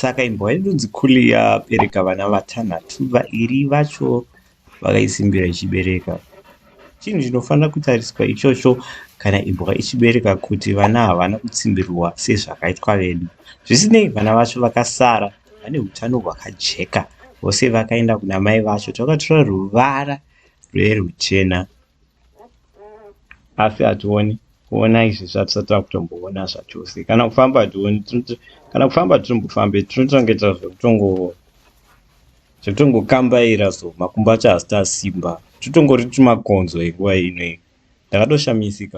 saka imbwa yedu dzikuli yabereka vana vatanhatu vairi vacho vakaisimbira ichibereka chinhu chinofanira kutariswa ichocho kana imbwa ichibereka kuti vana havana kutsimbirwa sezvakaitwa vedu zvisinei vana vacho vakasara vane utano hwakajeka vose vakaenda kuna mai vacho takatora ruvara rweruchena asi hationi kuona izvi zvatisati takutomboona zvachose kana kufamba hationi kana kufamba tirimbofambe tinotongeta zvekutongo zvekutongokambaira so makumbo acho hasita simba totongori tumakonzo enguva inoyi ndakatoshamisika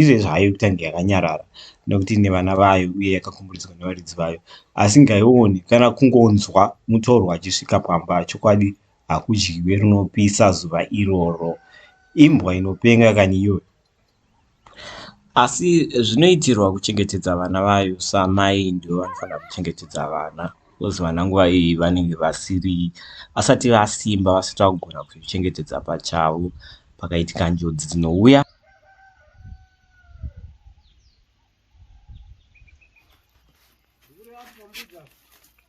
izvezvi hayo kutanga yakanyarara nekuti ine vana vayo uye yakakomboredzwa nevaridzi vayo asi ngaione kana kungonzwa mutorwa achisvika pamba chokwadi hakudyiwe rinopisa zuva iroro imbwa inopenga kani iyoyo Asi zvinoitirwa kuchengetedza vana vayo samai ndivo vanofanira kuchengetedza vana because vana nguva iyi vanenge vasiri vasati vasimba vasati vakugona kuzvichengetedza pachavo pakaitika njodzi dzinouya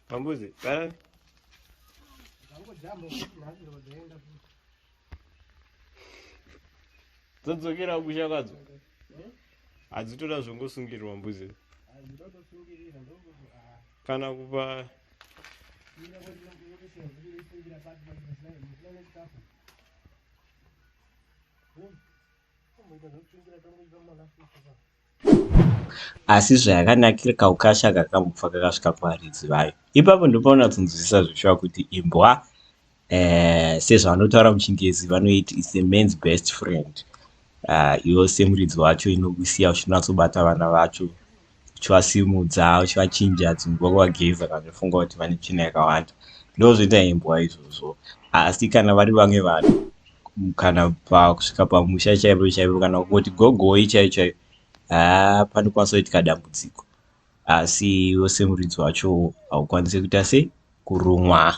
Pambuzi, dzodzokera kusha kwadzo hadzitoda zvongosungirirwa mbuzi kana kupa asi zvayakanakira kaukasha kakambobva kakasvika kuvaridzi vayo ipapo ndopaunatsinzwisisa zveshuwa kuti imbwa eh, sezvavanotaura muchingezi vanoiti is a man's best friend ah, iwo semuridzi wacho inokusiya uchinatsobata vana vacho uchivasimudza uchivachinja dzimbo kuvageza kana uchifunga kuti vane tsvina yakawanda ndozvoita imbwa izvozvo asi kana vari vamwe vanhu kana pakusvika pamusha chaipo chaipo kana kuti gogoi chaiyo chaiyo haa panokwanisa kuitika dambudziko asi iwe semuridzi wacho haukwanise kuita sei kurumwa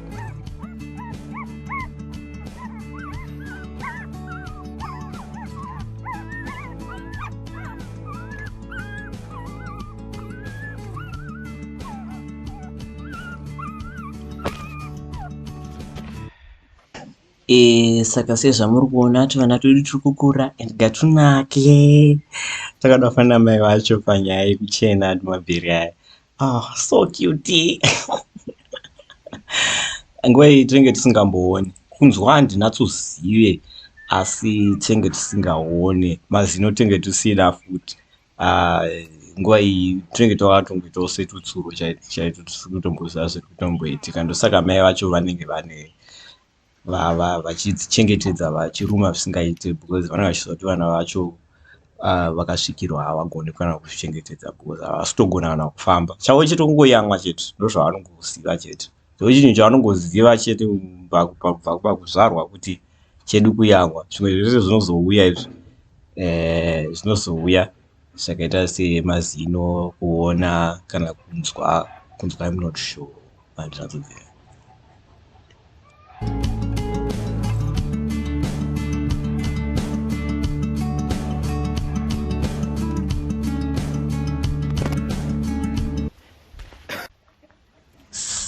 Eh, saka sezvamuri kuona tuvana twedu turi kukura and gatunake takada kufanira mai vacho panyaya yekuchena adi mabheri aya Oh, so cute. Nguva iyi tinenge tisingambooni. Kunzwa handina tuzive asi tinenge tisingaone mazino tinenge tusina futi. Uh, nguva iyi tinenge takatongoitawo setutsuro chaito chaito tisiri kutomboziva zviri kutomboitika ndosaka mai vacho vanenge vane vachidzichengetedza vachiruma zvisingaite because vanenge vachiziva kuti vana vacho uh, vakasvikirwa havagoni kana kuzvichengetedza because havasitogona kana kufamba chavo chete kungoyamwa chete ndozvavanongoziva chete so chinhu chavanongoziva chete pakuzvarwa kuti chedu kuyamwa zvimwe zvese zvinozouya izvi eh, zvinozouya zvakaita semazino kuona kana kunzwa kunzwa im not sure handizvamubvira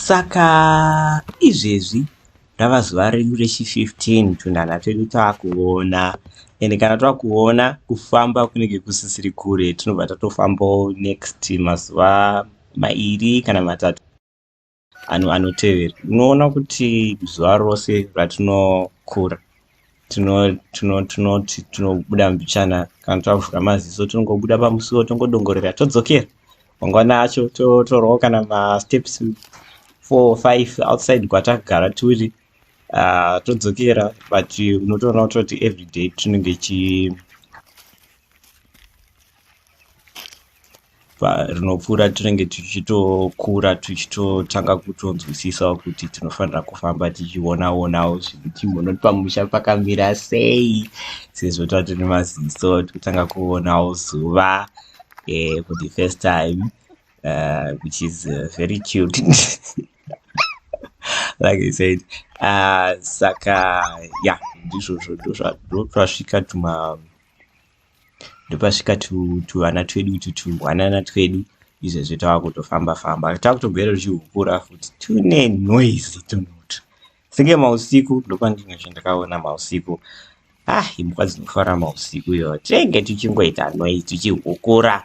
Saka izvezvi rava zuva redu rechi15 tunhanha twedu taakuona ende kana twakuona kufamba kunenge kusisiri kure tinobva tatofambawo next mazuva mairi kana matatu ano anotevera unoona kuti zuva rose ratinokura tinoti tinobuda mbichana kana tavhura maziso tinongobuda pamusuwo tongodongorera todzokera mangwana acho torowo kana masteps four five outside kwatagara turi ah, todzokera but unotoona kutoti everyday tinenge chi rinopfuura tinenge tichitokura tichitotanga kutonzwisisawo kuti tinofanira kufamba tichionaonawo zviri chimhono pamusha pakamira sei sezvo tati nemaziso tikutanga kuonawo zuva eh, for the first time uh, which is uh, very cute like i said uh, saka ya yeah, ndizvozvo ndozvasvika tuma ndopasvika tuvana twedu utu tungwanana twedu izvezvi tava kutofamba famba tava kutogera tuchihukura futi tune noise tunotu senge mausiku ndopandinge zve ndakaona mausiku ah imbwa dzinofara mausiku iyo tinenge tuchingoita noise tuchihukura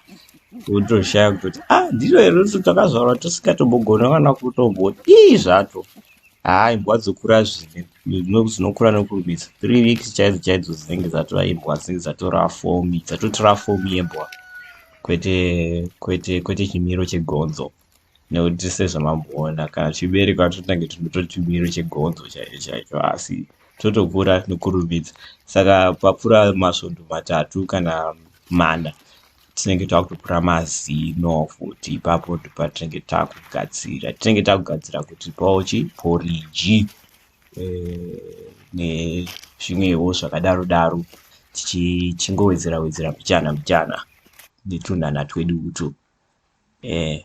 wotoshaya kutoti ah ndiro iro twakazvarwa tusingatobogona kana kutombodii zvato haa imbwa dzokura zvine zvinokura nokurumidza three weeks chaidzo chaidzo dzinenge dzatora imbwa dzinenge dzatora fomi dzatotora fomi yembwa kwete kwete kwete chimiro chegonzo nekuti sezvamamboona kana chibereko atotange tinotora chimiro chegonzo chaicho chaicho asi totokura nokurumidza saka papfura masvondo matatu kana mana tinenge takutokura mazino futi ipapo ndipatinenge takugadzira tinenge takugadzira kuti paochi poriji e, eh, nezvimwewo zvakadaro daro tichingowedzera wedzera mbichana mbichana netunhana twedu utu e, eh,